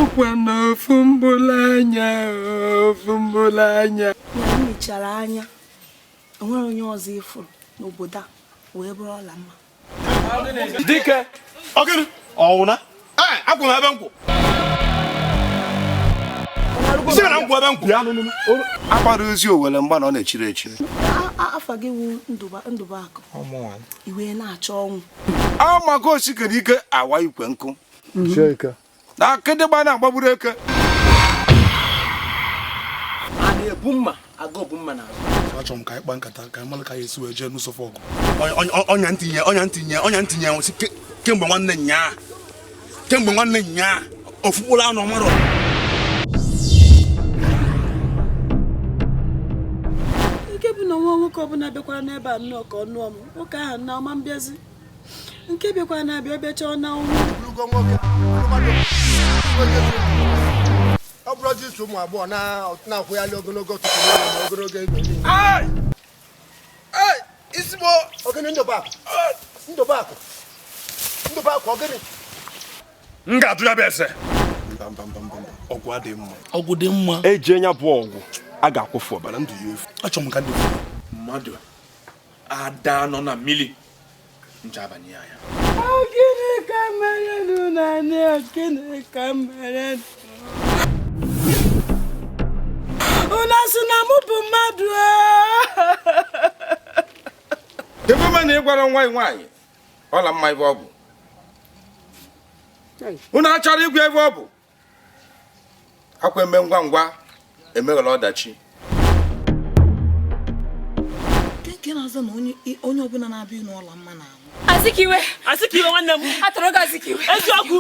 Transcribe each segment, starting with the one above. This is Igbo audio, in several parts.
ọkwa na ofu mbụla anya ofu mbụla anya ya mechara anya onwere onye ọzọ ịfụrụ n'obodo a wee bụrụ ọlamma dike ọwụna ee akwụ m ebe nkwụ si na nkwụ ebe nkwụ bịa nụ nụ agbara ezi owere mgba na ọ na-echiri echiri afa gị wụ ndụbụakụ i wee na-achọ ọnwụ a maka osikere ike awa ikwe nkụ na akịdịgba na-agbagburu eke a na-ebu mma aga ogbu mma n'azụ achọrọ m ka anyị kpa nkata ka anyị mara ka anyị esi wee jee n'ụsọfọ ọgụ ọnya m tinye ọnya m tinye ọnya m tinye nwụsị kemgbe nwanne nnyaa kemgbe nwanne nnyaa ofu mkpụrụ anụ ọ marọ nke bụ na nwa nwoke ọbụla bịakwara n'ebe a nnọọ ka ọ nụọ m nwoke ahụ na ọma mbịazi nke bịakwara na-abịa ọ bịacha ọ na-anwụ ọ bụrụ jisi ụmụ agbọghọ na-akwụghalị ogologo ọtụtụ na ogologo ego ị sị mụ ọ gịnị ndụbụakụ ndụbụakụ ndụbụakụ ọ gịnị m ga-atụ ya bụ ese ọgwụ adịghị mma ọgwụ dị mma eji enya bụ ọgwụ a ga-akwụfụ ọbara ndụ ya efu achọrọ m ka ndị mmadụ ada anọ na mmiri ncha abanye ya anya gịnị ka m mere nụ na nne gịnị ka m mere unu sị na mụ bụ mmadụ ebe ma na ị gwara nwa nwaanyị ọlamma ebe ọ bụ unu achọrọ ịgwa ebe ọ bụ ọkwa eme ngwa ngwa emeghara ọdachi nke na-azọ na onye ọbụla na-abịa ịnụ ọlamma na-anwụ Azikiwe Azikiwe nwanne m atụrụ gị Azikiwe eziokwu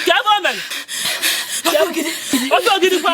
ka ebe o mere oke ogidi kwa